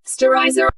Sterilizer.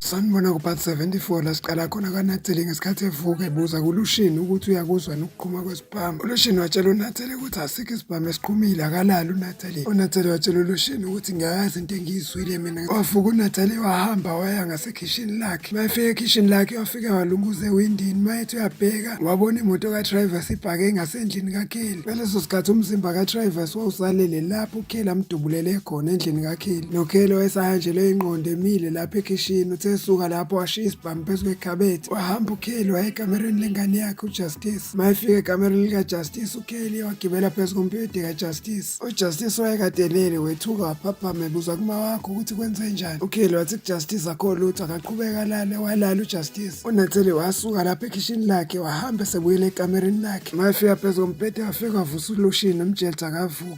sanibona kupart 74 la siqala khona kanatheli ngesikhathi evuka ebuza kulushini ukuthi uyakuzwa nokuqhuma kwesibhamu Bhamba uLushini watshela uNathele ukuthi asikho isibhamu esiqhumile akalali uNathele. UNathele watshela uLushini ukuthi ngiyayazi into engiyizwile mina. Wafuka uNathele wahamba waya ngasekhishini lakhe. Mayefika ekhishini lakhe wafike walunguza ewindini mayethi uyabheka wabona imoto kaTrivers ibhake ngasendlini kaKelly. Ngaleso sikhathi umzimba kaTrivers wawusalele lapho uKelly amdubulele khona endlini kaKelly. NoKelly wayesahanjelwe inqondo emile lapho ekhishini uthe suka lapho washiya bami phezu kwekhabethe wahamba ukelly waye ekamereni lengane yakhe ujustice mayefika ekamereni likajustice ukelly wagibela phezu kompibede kajustice ujustice wayekadelele wethuka waphaphama ebuza kuma wakho ukuthi kwenze njani ukelly wathi kujustice akho lutho akaqhubeka lale walala ujustice unathele wasuka lapha ekhishini lakhe wahamba esebuyela ekamereni lakhe mayefika phezu kompibede wafika wavusa ulushini umjelta akavuka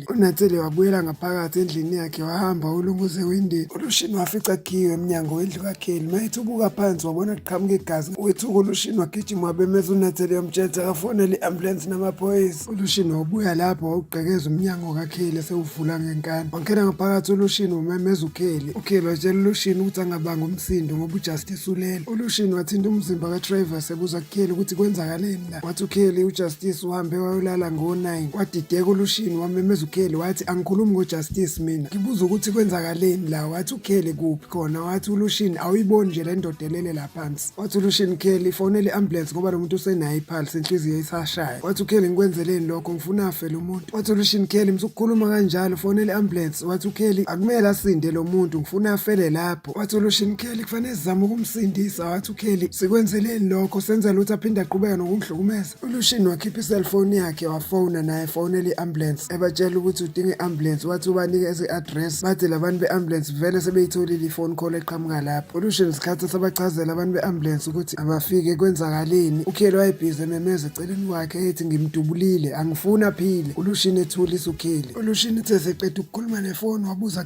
UNatsele wabuyela ngaphakathi endlini yakhe wahamba ulunguza ewindini uLushini wafica kukhiwe emnyango wendlu kaKelly mayethi ubuka phansi wabona kuqhamuka igazi wethuka uLushini wagijima wabemeza uNatsele yomtshela ukuthi akafonele i-ambulensi namaphoyisa uLushini wawubuya lapho wawugqekeza umnyango kaKelly esewuvula ngenkani wangena ngaphakathi uLushini wamemeza uKelly uKelly watshela uLushini ukuthi angabanga umsindo ngoba uJustice ulele uLushini wathinta umzimba kaTravers ebuza kuKelly ukuthi kwenzakaleni wathi ukheli ujustice uhambe wayolala ngo-9 kwadideka ulushini wamemeza ukheli wathi angikhulumi ngojustice mina ngibuza ukuthi kwenzakaleni la wathi ukheli kuphi khona wathi ulushini awuyiboni nje le ndoda elele la phansi wathi ulushini kheli fonele i-ambulance ngoba lo muntu usenayo iphalsi inhliziyo isashaya wathi ukheli ngikwenzeleni lokho ngifuna afe lo muntu wathi ulushini kheli msukukhuluma kanjalo fonele i-ambulance wathi ukheli akumele asinde lo muntu ngifuna afele lapha wathi olushini uKelly kufanele sizame ukumsindisa wathi uKelly sikwenzeleni lokho senza lutho aphinde aqhubeka nokungihlukumeza olushini wakhipha iselfoni yakhe wafona naye fonela i-ambulance ebatshela ukuthi udinga i-ambulance wathi ubanikeze i-address bathi labantu be-ambulance vele sebeyitholile ifoni call eqhamuka lapho olushini sikhathi sabachazela abantu be-ambulance ukuthi abafike kwenzakaleni uKelly wayebhizi ememeza eceleni kwakhe ethi ngimdubulile angifuni aphile olushini ethulisa uKelly olushini uthe seqeda ukukhuluma nefoni wabuza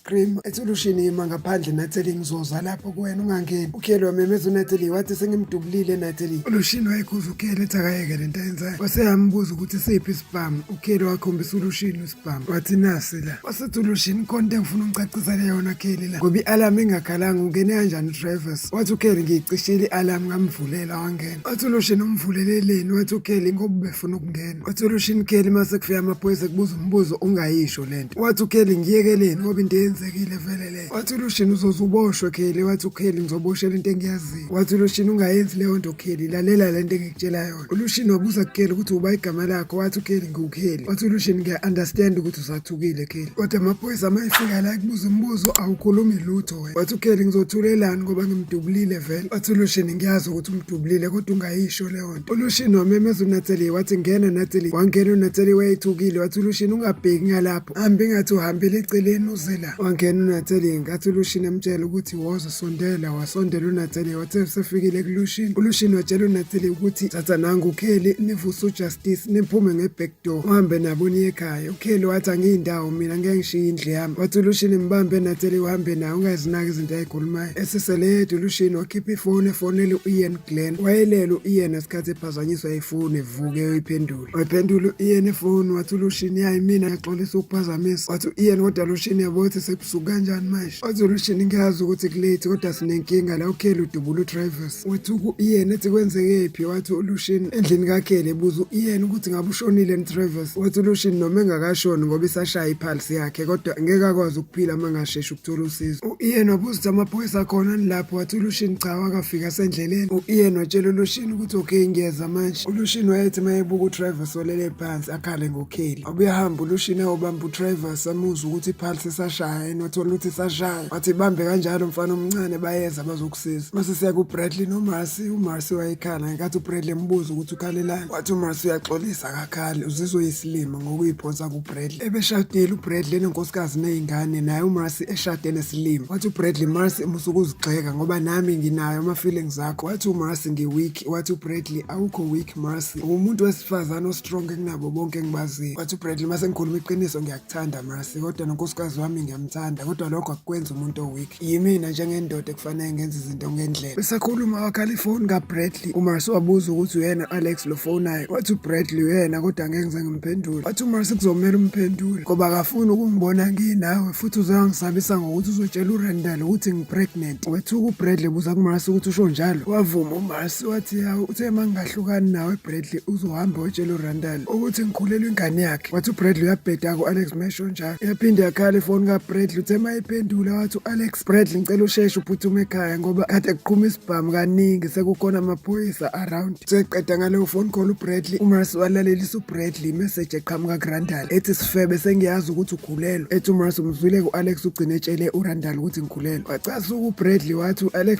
Grim ethi ulushini yima ngaphandle Natalie ngizoza lapho kuwena ungangeni ukheli wamemeza uNatalie wathi sengimdubulile Natalie ulushini wayekhuza ukheli ethi akayeke lento ayenzayo waseyambuza ukuthi siphi isibhamu ukheli wakhombisa ulushini isibhamu wathi nasi la wasethi ulushini khona into engifuna ungicacisele yona kheli la ngoba i-alarm ingakhalanga ungene kanjani udrivers wathi ukheli ngiyicishile i-alarm ngamvulela wangena wathi uloshini umvuleleleni wathi ukheli ngoba ubefuna ukungena wathi uloshini kheli uma sekufika amaphoyisa ekubuza umbuzo ungayisho le nto wathi ukheli ngiyekeleni ngoba into eyenzekile vele le wathi uloshini uzoze uboshwe kheli wathi ukheli ngizoboshela into engiyaziyo wathi uloshini ungayenzi leyo nto kheli lalela le nto engikutshela yona ulushini wabuza kukheli ukuthi uba igama lakho wathi ukheli ngiwukheli wathi ulushini ngiya-understand ukuthi usathukile kheli kodwa amaphoyisa uma efika la ekubuza umbuzo awukhulumi lutho wathi ukheli ngizothulelani ngoba ngimdubulile vele wathi ulushini ngiyazi ukuthi umdubulile kodwa ungayisho leyo nto ulushini wamemeza unateli wathi ngena nateli wangena unateli wayethukile wathi ulushini ungabheki ngalapho hambi ngathi uhambile eceleni uzela wangena unateli ngathi ulushini amtshela ukuthi woza sondela wasondela unateli wathe usefikile kulushini ulushini watshela unateli ukuthi thatha nangu ukheli nivuse ujustice niphume ngebhek Do uhambe nabo niye ekhaya. UKelly wathi angiyindawo mina ngeke ngishiye indlu yami. Wathi uLushini mbambe enatheli uhambe naye ungazinaki izinto ayikhulumayo. Eseseledu uLushini wakhipha ifoni efonele u-Ian Glen. Wayelele u-Ian ngesikhathi ephazanyiswa ifoni evuke eyiphendula. Wayiphendula u-Ian ifoni wathi uLushini yayi mina ngiyaxolisa ukuphazamisa. Wathi u-Ian kodwa Lushini yabo ukuthi sebusuku kanjani manje. Wathi uLushini ngiyazi ukuthi kulate kodwa sinenkinga la uKelly udubula uTravis. wathi uyena ethi kwenzekephi wathi ulushini endlini kakhele buza uyena ukuthi ngabe ushonile nitravis wathi ulushini noma engakashoni ngoba isashaya iphalisi yakhe kodwa ngeke akwazi ukuphila uma ngashesha ukuthola usizo uyena wabuza ukuthi amaphoyisa akhona nilapho wathi ulushini cha wakafika sendleleni uyena watshela ulushini ukuthi okay ngiyeza manje ulushini wayethi uma ebuka utravis olele phansi akhale ngokheli obuyahamba ulushini ayobamba utravis amuzwa ukuthi iphalisi isashaya yena wathola ukuthi isashaya wathi bambe kanjalo mfana omncane bayeza bazoku Sis, mase siya kuBradley noMarcy, uMarcy wayekhala ngenkathi uBradley embuza ukuthi ukhalelani. Wathi uMarcy uyaxolisa akakhali, uzizwe isilima ngokuyiphonsa kuBradley. Ebeshadile uBradley nenkosikazi nezingane, naye uMarcy eshade nesilima. Wathi uBradley, Marcy musa ukuzigxeka ngoba nami nginayo ama feelings akho. Wathi uMarcy ngiweak, wathi uBradley awukho weak Marcy. Umuntu wesifazane ostrong kunabo bonke engibaziyo. Wathi uBradley mase ngikhuluma iqiniso ngiya Thanda Mercy kodwa nonkosikazi wami ngiyamthanda kodwa lokho akukwenza umuntu oweak yimina njengendoda ekufanele ngenze izinto ngendlela besakhuluma wakhala ifoni kaBradley uMarcy wabuza ukuthi uyena Alex lofonayo wathi uBradley uyena kodwa ngeke ngize ngimphendule wathi uMarcy kuzomela umphendule ngoba akafuni ukungibona nginawe futhi uzangisabisa ngokuthi uzotshela uRandall ukuthi ngipregnant wethuka uBradley buza kuMarcy ukuthi usho njalo wavuma uMarcy wathi yawo uthe mangingahlukani nawe Bradley uzohamba otshela uRandall ukuthi ngikhulelwe ingane yakhe wathi ubradley uyabheda ku-alex mesho njalo yaphinde yakhala ifoni kabradley uthe ma iphendula wathi u-alex bradley ngicela usheshe uphuthume ekhaya ngoba kade kuqhuma isibhamu kaningi sekukhona amaphoyisa around seqeda ngaleyo phone call ubradley umras walalelisa ubradley imeseji eqhamuka kurandal ethi sifebe sengiyazi ukuthi ukhulelwe ethi umras umzwile ku-alex ugcine etshele urandal ukuthi ngikhulelwe wacasuka ubradley wathi u-alex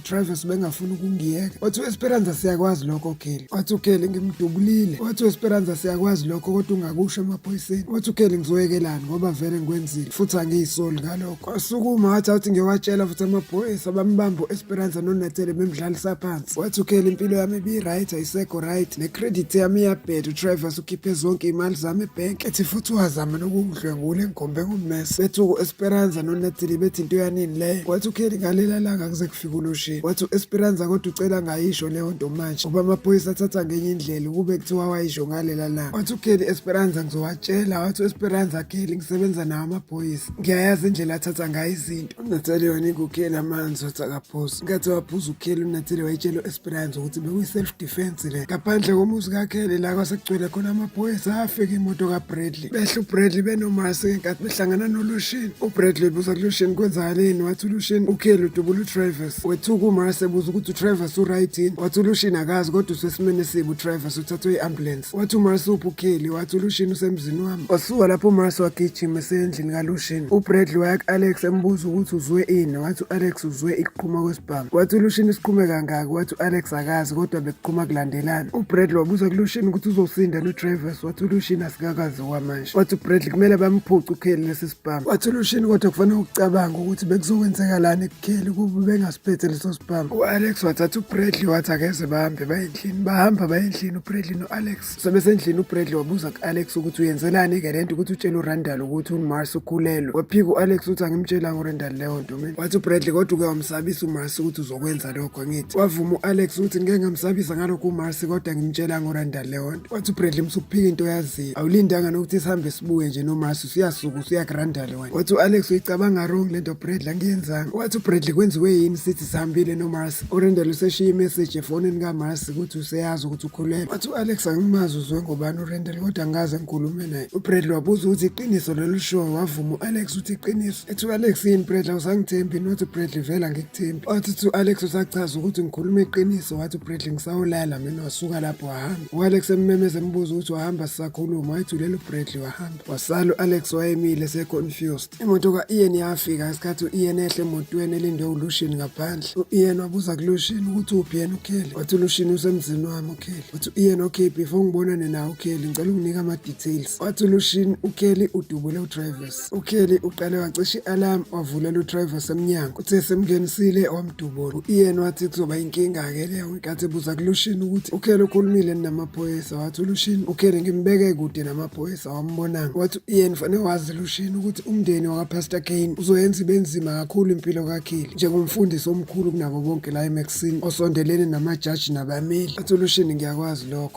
Travis bengafuni ukungiyeka wathi uesperanza siyakwazi lokho kelly wathi ukelly ngimdubulile wathi uesperanza siyakwazi lokho kodwa ungakusho emaphoyiseni wathi ukelly ngizoyekelani ngoba vele ngikwenzile futhi angiyisoli ngalokho kwasukuma wathi awuthi ngiyowatshela futhi amaphoyisa bambamba uesperanza nonatele bemdlalisa phansi wathi ukelly impilo yami ibiright ayisekho right necredit yami iyabheda utravis ukhiphe zonke iy'mali zami ebhenki ethi futhi wazama nokungidlwengula engigombe ngummese bethuku uesperanza nonatele bethi into yanini leyo wathi ukelly ngaleli langa kuze kufike uloshini wathi u-esperanza kodwa ucela ngayisho leyo nto manje ngoba amaphoyisa athatha ngenye indlela ukube kuthiwa wayisho ngalela langa wathi ukheli esperanza ngizowatshela wathi u-esperanza kheli ngisebenza nawo amaphoyisa ngiyayazi indlela athatha ngayo izinto unatali wanika ukheli amanzi wathi akaphuzi nkathi waphuza ukheli unatali wayitshela u-esperanza ukuthi bekuyi-self defense le ngaphandle komuzi kakheli la kwasekugcwele khona amaphoyisa afika imoto kabradley uBradley behle uBradley benomasi ngenkathi behlangana noLushin uBradley buza kuLushin kwenzakaleni wathi uLushin uKelly udubula uTravis wethuka uMarcy ebuza ukuthi uTravis uright yini wathi uLushin akazi kodwa usesimeni esibi uTravis uthathwe i-ambulance wathi uMarcy uphi uKelly wathi uLushin usemzini wami wasuka lapho uMarcy wagijima esendlini kaLushin uBradley waya ku-Alex embuza ukuthi uzwe ini wathi u-Alex uzwe ikuqhuma kwesibhamu wathi uLushin isiqhume kangaki wathi u-Alex akazi kodwa bekuqhuma kulandelana uBradley wabuza kuLushin ukuthi uzosinda noTravis Thulushini asikakazi okwamanje wathi uBradley kumele bamphuce uKelly lesi sibhamu wathi uLushini kodwa kufanele ukucabanga ukuthi bekuzokwenzekalani kuKelly kuba bengasiphethe leso sibhamu u-Alex wathatha uBradley wathi akeze bahambe baye endlini bahamba baye endlini uBradley no-Alex sebesendlini uBradley wabuza ku-Alex ukuthi uyenzelani-ke le nto ukuthi utshele uRandall ukuthi uMars ukhulelwe waphika u-Alex uthi angimtshelanga uRandall leyo nto mina wathi uBradley kodwa uke wamsabisa uMars ukuthi uzokwenza lokho ngithi wavuma u-Alex ukuthi ngeke ngamsabisa ngalokho uMars kodwa ngimtshelanga uRandall leyo nto wathi ubradley msukuphika into yaziyo awulindanga nokuthi sihambe sibuye nje nomasi usuyasuka usuyagrandale wena wathi u-alex uyicabanga wrong le nto bradley angiyenzanga wathi ubradley kwenziwe yini sithi sihambile nomasi urendel useshiye imeseji efonini kamasi ukuthi useyazi ukuthi ukhulelwe wathi u-alex angimazi uzwe ngobani urendel kodwa angaze ngikhulume naye ubradley wabuza ukuthi iqiniso lolu show wavuma u-alex uthi iqiniso ethi u-alex yini bradley usangithembi nothi ubradley vela ngikuthembi wathi to alex usachaza ukuthi ngikhuluma iqiniso wathi ubradley ngisawulala mina wasuka lapho wahambe u-alex emmemeza embuza ukuthi wahamba sisakhuluma wayethulele ubradley wahamba wasala u-alex wayemile seconfused imoto ka-ian yafika ngesikhathi u-ian ehle emotweni elindwe ulushin ngaphandle u-ian wabuza kulushin ukuthi uphi yena ukheli wathi ulushin usemzini wami ukheli wathi u-ian okay before ngibonane nawo ukheli ngicela unginika ama-details wathi ulushin ukheli udubule udrivers uKelly uqale wacisha i-alarm wavulela udriver semnyango uthe semngenisile wamdubula u-ian wathi kuzoba inkinga-ke leyo ngenkathi ebuza kulushini ukuthi uKelly ukhulumile namaphoyisa wathi ulushini uKelly ngimbeke kude namaphoyisa wambonanga wathi u-ian fanele wazi lushini ukuthi umndeni wakapastor kane uzoyenza ibe nzima kakhulu impilo kaKelly njengomfundisi omkhulu kunabo bonke la emexini osondelene namajaji nabameli wathi ulushini ngiyakwazi lokho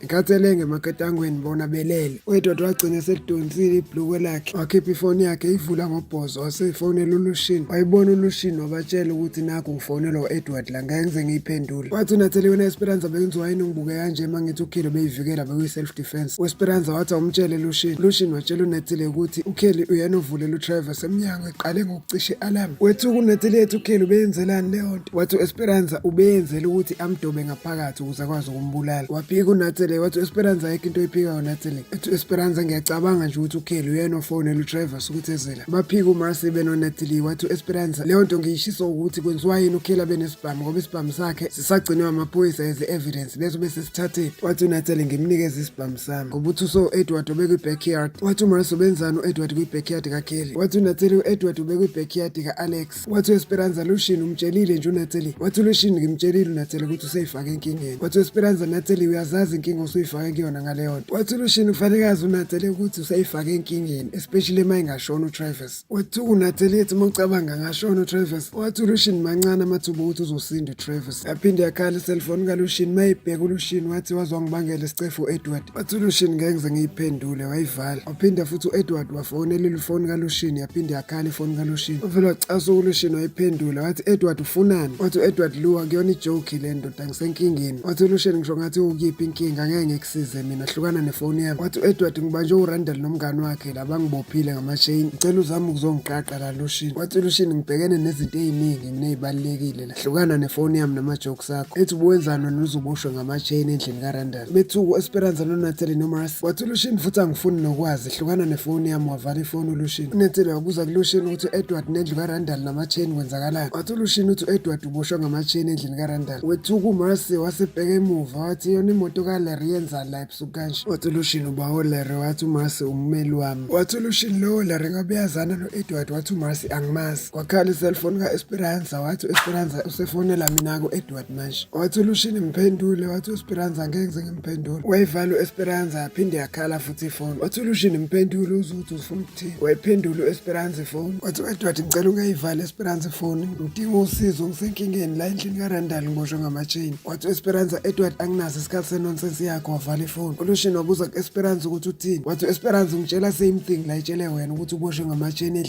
Ngenkathi elenge emaketangweni bona belele, uEdward wagcina eselidonsile ibhlukwe lakhe, wakhipha ifoni yakhe eyivula ngobhozo wase efonela uLushini. Wayibona uLushini wabatshela ukuthi nakhu ngifonelwa u-Edward la ngeke ngize ngiyiphendule. Wathi uNathalie wena Esperanza bengiziwa yini ungibuke kanje uma ngithi uKheli ubeyivikela bekuyi-self defense. UEsperanza wathi awumtshele Lushini. Lushini watshela uNathalie ukuthi uKheli uyena ovulela uTravers emnyango eqale ngokucisha i-alarm. Wethuka uNathalie ethi uKheli ubeyenzelani leyo nto. Wathi uEsperanza ubeyenzela ukuthi amdobe ngaphakathi ukuze akwazi umbulala waphika unatsele wathi uesperanza ayikho into oyiphikayo natsele ethi uesperanza ngiyacabanga nje ukuthi ukheli uyena ofonela udriver sukuthezela baphika umasi benonatsele wathi uesperanza leyo nto ngiyishisa ukuthi kwenziwa yini ukheli abenesibhamu ngoba isibhamu sakhe sisagcinwe amaphoyisa as evidence bese bese sithatheni wathi unatsele ngimnikeza isibhamu sami ngoba uthi uso edward obekwi-backyard wathi umasi ubenzani u-edward kwi-backyard kakheli wathi unatsele u-edward ubekwi-backyard ka-alex wathi uesperanza lushini umtshelile nje unatheli wathi lushini ngimtshelile unatheli ukuthi useyifake enkingeni wathi uesperanza natheli uyazazi inkinga osuyifake kuyona ngaleyo nto wathi lushini kufanele azi unatheli ukuthi useyifake enkingeni especially uma ingashona utravis wathi unatheli ethi uma ucabanga ngashona utravis wathi ulushini mancane amathuba ukuthi uzosinda utravis yaphinde yakhala iselfoni kalushini uma ibheka ulushini wathi wazwangibangela isicefu uedward wathi ulushini ngeke ngize ngiyiphendule wayivala Phinda futhi u-Edward wafonela ilifoni kaLushini yaphinde yakhala ifoni kaLushini. Uvele wacasa uLushini wayiphendula wathi Edward ufunani? Wathi u-Edward Luwa kuyona ijoke le ndoda ngisenkingeni. Wathi uLushini ngisho ngathi ukuyiphi inkinga ngeke ngikusize mina hlukana nefoni yami. Wathi u-Edward ngibanje uRandall nomngani wakhe la bangibophile ngamachain. Ngicela uzame ukuzongiqaqa la Lushini. Wathi uLushini ngibhekene nezinto eziningi nginezibalulekile hlukana nefoni yami nama-jokes akho ethi ubuwenzani wena uzuboshwe ngama-chain endlini karandal bethuku esperanza nonatheli nomaras wathi ulushini futhi angifuni nokwazi hlukana nefoni yami wavala ifoni ulushini unatheli wabuza kulushini ukuthi u-edward nendlu karandal nama-chain kwenzakalani wathi ulushini uthi u-edward uboshwe ngama-chain endlini karandal wethuku umaras wasebheka emuva wathi yona imoto kaleri yenzani la ebusuku kanje wathi ulushini uba oleri wathi umaras ummeli wami wathi ulushini lowo leri ngabe yazana no-edward wathi umaras angimazi Kwakhala iselfoni ka-Esperanza wathi u-Esperanza usefonela mina ku-Edward manje. Wathi uLushini mphendule wathi u-Esperanza ngeke ngize ngimphendule. Wayivala u-Esperanza yaphinde yakhala futhi ifoni. Wathi uLushini mphendule uzwe ukuthi ufuna ukuthini. Wayiphendula u-Esperanza ifoni. Wathi u-Edward ngicela ungayivali Esperanza ifoni. Ngidinga usizo ngisenkingeni la endlini kaRandall ngiboshwe ngama-chain. Wathi u-Esperanza Edward anginaso isikhathi senonsense yakho wavala ifoni. ULushini wabuza ku-Esperanza ukuthi uthini. Wathi u-Esperanza ungitshela same thing la itshele wena ukuthi uboshwe ngama-chain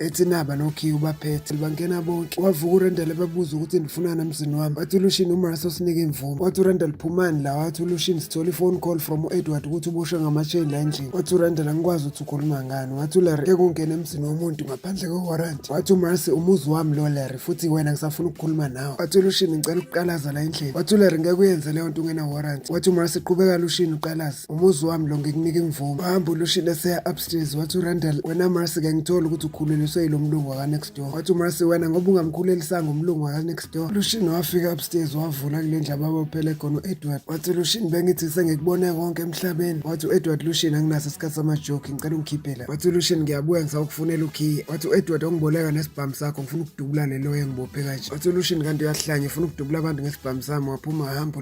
ethi naba nokhiye ubaphethe bangena bonke wavuka urendel ebabuza ukuthi ndifunana mzini wami wathi ulushini umraso sinike imvume wathi urendel phumani la wathi ulushini sithola ifone call from u-edward ukuthi uboshwe ngamasheni la endlini wathi urendel angikwazi ukuthi ukhuluma ngani wathi ularry ke kungena emzini womuntu ngaphandle kwewaranti wathi umrasi umuzi wami lo larry futhi wena ngisafuna ukukhuluma nawe wathi ulushini ngicela ukuqalaza la endlini wathi ularry ngeke uyenze leyo nto ungena waranti wathi umrasi qhubeka lushini uqalaze umuzi wami lo ngikunika imvumo wahamba ulushile seya upstairs wathi urandal wena marcy ke ngithola ukuthi ukhululiswe yilo mlungu wakanext door wathi umarcy wena ngoba ungamkhulelisanga umlungu wakanext door lushini wafika upstairs wavula kule ndlu ababophele khona u-edward wathi lushini bengithi sengikubone konke emhlabeni wathi u-edward lushini anginaso isikhathi samajoki ngicela ungikhiphela wathi lushini ngiyabuya ngisawukufunela ukhiye wathi u-edward ongiboleka nesibhamu sakho ngifuna ukudubula leloyo engibophe kanje wathi lushini kanti uyahlanya ufuna ukudubula abantu ngesibhamu sami waphuma wahamba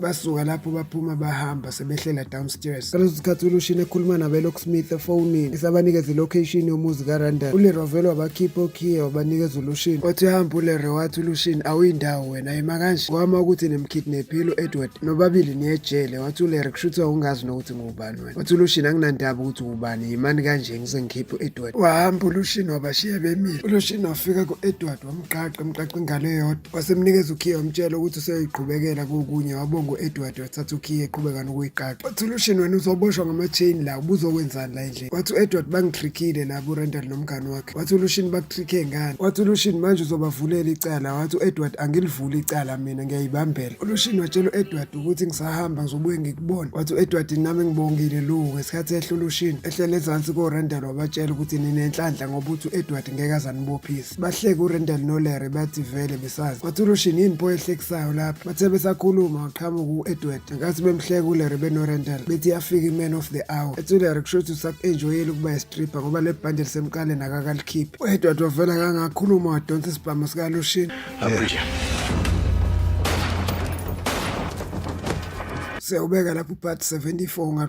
basuka lapho baphuma bahamba sebehlela downstairs ngaleso sikhathi ulushini ekhuluma nabelock smith efonini esabanikeza ilocation yomuzi karandal ulero vele wabakhipha okhiye wabanikeza ulushini wathi uhamba ulero wathi ulushini awuyindawo wena yima kanje kwama ukuthi nimkidnephile u-edward nobabili niyejele wathi ulero kusho ukuthi wawungazi nokuthi ngubani wena wathi ulushini anginandaba ukuthi ubani yimani kanje ngise ngikhiphe u-edward wahamba ulushini wabashiya bemile ulushini wafika ku-edward wamqaqa emqaqa ingalo eyodwa wasemnikeza ukhiye wamtshela ukuthi useyoyiqhubekela kokunye wabonga u-edward wathatha ukhiye eqhubeka nokuyiqaqa wathi ulushin wena uzoboshwa ngama-chain la ubuzokwenzani la endlini wathi u-edward bangitrikile la burendal nomngani wakhe wathi ulushin bakutrike ngani wathi ulushin manje uzobavulela icala wathi u-edward angilivuli icala mina ngiyayibambela ulushin watshela u-edward ukuthi ngisahamba ngizobuye ngikubona wathi u-edward nami ngibongile lu ngesikhathi ehle ulushin ehlele ezansi korendal wabatshela ukuthi ninenhlanhla ngoba uthi u-edward ngeke azanibophise Bahleke uRendal noLarry bathi vele besazi. Bathi uLushini yini pho ehlekisayo lapha. Bathe besakhuluma waqhamuka u-Edward. Ngenkathi bemhleka uLarry benoRendal bethi yafika i-man of the hour. Ethi uLarry kusho ukuthi usaku-enjoyile ukuba istripper ngoba le bhande lisemqaleni akakalikhiphi. U-Edward wavela kangakhuluma wadonsa isibhamu sikaLushini. Siyawubeka lapho part 74 unga